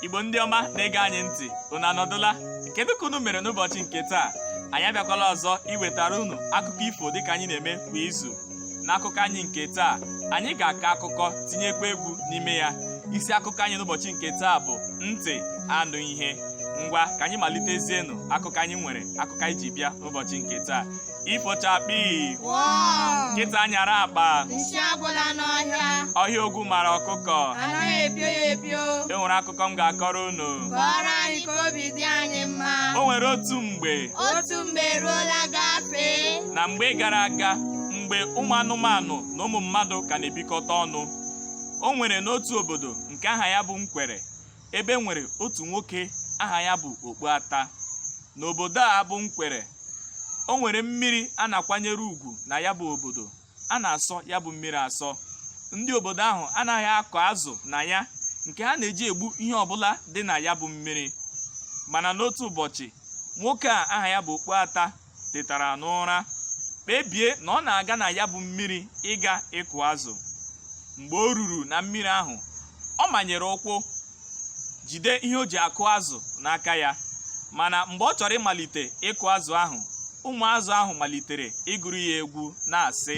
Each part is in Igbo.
igbo ndị ọma na-ege anyị ntị unu anọdụla kedu ka unu mere n'ụbọchị nke taa anyị abịakwala ọzọ iwetara unu akụkọ ifo dịka anyị na-eme kwa izu n'akụkọ anyị nke taa anyị ga-akọ akụkọ tinyekwa egwu n'ime ya isi akụkọ anyị n'ụbọchị nke taa bụ ntị anụ ihe ngwa ka anyị malitezienụ akụkọ anyị nwere akụkọ anyị ji bịa n'ụbọchị nke taa ifo chakpii Wọọ! nkịta nyara akpa nsị agwụla n'ọhịa, ọhịa ogwu mara ọkụkọ anaghị epio ya epio. e nwere akụkọ m ga-akọrọ unu Kọọrọ anyị ka obi dị anyị mma. o nwere otu mgbe Otu mgbe eruola gafee. na mgbe gara aga mgbe ụmụ anụmanụ na ụmụ mmadụ ka na-ebikọta ọnụ o nwere n'otu obodo nke aha ya bụ nkwere ebe e nwere otu nwoke aha ya bụ Okpuata. N'obodo a bụ Nkwere, o nwere mmiri a na-akwanyere ugwu na ya bụ obodo. A na-asọ ya bụ mmiri asọ. Ndị obodo ahụ anaghị akụ azụ na ya nke ha na-eji egbu ihe ọbụla dị na ya bụ mmiri. Mana n'otu ụbọchị, nwoke a aha ya bụ Okpuata tetara n'ụra kpebie na ọ na-aga na ya bụ mmiri ịga ịkụ azụ mgbe o ruru na mmiri ahụ ọ manyere ụkwụ jide ihe o ji akụ azụ n'aka ya mana mgbe ọ chọrọ ịmalite ịkụ azụ ahụ ụmụ azụ ahụ malitere ịgụrụ ya egwu na-asị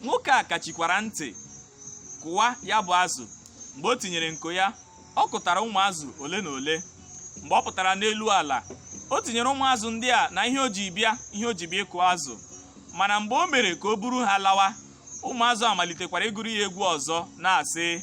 nwoke a kachikwara ntị kụwa ya bụ azụ mgbe o tinyere nko ya ọ kụtara ụmụ azụ ole na ole mgbe ọ pụtara n'elu ala o tinyere ụmụ azụ ndị a na ihe o ji bịa ihe o ji bịa ịkụ azụ mana mgbe o mere ka o buru ha lawa ụmụ azụ amalitekwara ịgụrụ ya egwu ọzọ na-asị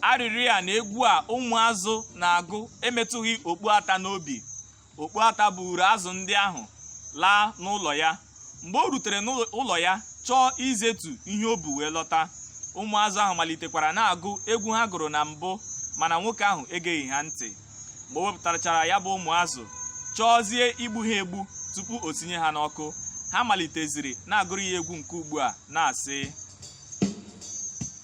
arịrị a na egwu a ụmụazụ na-agụ emetụghị okpuata n'obi okpuata buuru azụ ndị ahụ laa n'ụlọ ya mgbe o rutere n'ụlọ ya chọọ izetu ihe o bu wee lọta ụmụazụ ahụ malitekwara na-agụ egwu ha gụrụ na mbụ mana nwoke ahụ egeghị ha ntị mgbe o wepụtachara ya bụ ụmụazụ chọọzie igbu ha egbu tupu o sinye ha n'ọkụ ha maliteziri na-agụrụ ya egwu nke ugbu a na-asị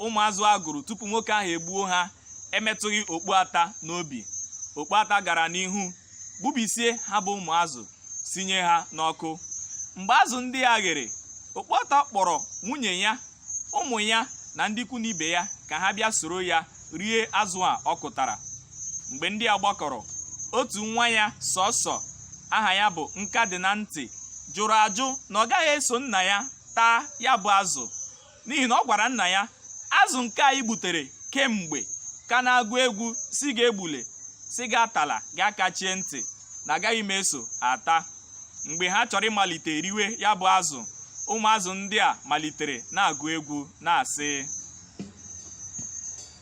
ụmụazụ a gụrụ tupu nwoke ahụ egbuo ha emetụghị okpuata n'obi okpuata gara n'ihu gbubisie ha bụ ụmụazụ sinye ha n'ọkụ mgbe azụ ndị a ghere okpuata kpọrọ nwunye ya ụmụ ya na ndị ikwu na ibe ya ka ha bịa soro ya rie azụ a ọ kụtara mgbe ndị a gbakọrọ otu nwa ya sọsọ aha ya bụ nka dị na ntị jụrụ ajụ na ọ gaghị eso nna ya taa ya bụ azụ n'ihi na ọ gwara nna ya azụ nke anyị gbutere kemgbe ka na-agụ egwu sị gị egbule sị gị atala gị akachie ntị na agaghị m eso ata mgbe ha chọrọ ịmalite riwe ya bụ azụ ụmụazụ ndị a malitere na-agụ egwu na-asị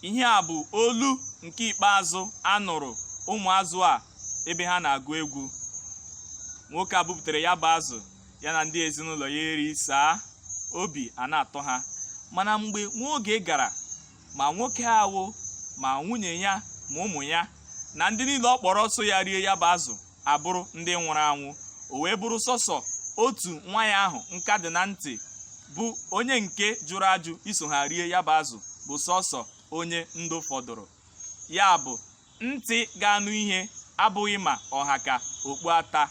ihe a bụ olu nke ikpeazụ a nụrụ ụmụazụ a ebe ha na-agụ egwu nwoke a bupụtara ya bụ azụ ya na ndị ezinụlọ ya erisaa obi a na-atọ ha mana mgbe nwa oge gara ma nwoke ahụ ma nwunye ya ma ụmụ ya na ndị niile ọ kpọrọ so ya rie ya bụ azụ abụrụ ndị nwụrụ anwụ o wee bụrụ sọsọ otu nwa ya ahụ nka dị na ntị bụ onye nke jụrụ ajụ iso ha rie ya bụ azụ bụ sọsọ onye ndụ fọdụrụ ya bụ ntị ga-anụ ihe abụghị ma ọ ha ka okpu ata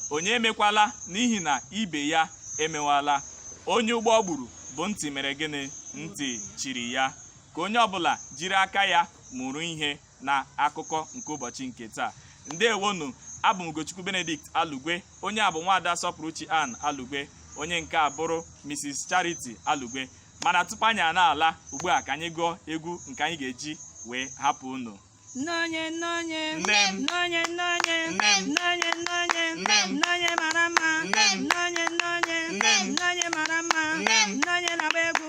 onye emekwala n'ihi na ibe ya emewala onye ụgbọ gburu bụ ntị mere gịnị ntị chiri ya ka onye ọbụla jiri aka ya mụrụ ihe na akụkọ nke ụbọchị nke taa ndewonu abụ m Ugochukwu Benedict Alugwe onye a bụ nwaada Sọpụrụchi Ann Alugwe onye nke a bụrụ Mrs Charity Alugwe mana tupu anyị a na-ala ugbu a ka anyị gụọ egwu nke anyị ga-eji wee hapụ unu Nnọnye nnọnye Nne m. nnọnye nnọnye Nne m. nnọnye nnọnye Nne m. nnọnye mara mma Nne m. nnọnye nnọnye Nne m. nnọnye mara mma Nne m. nnọnye na-agba egwu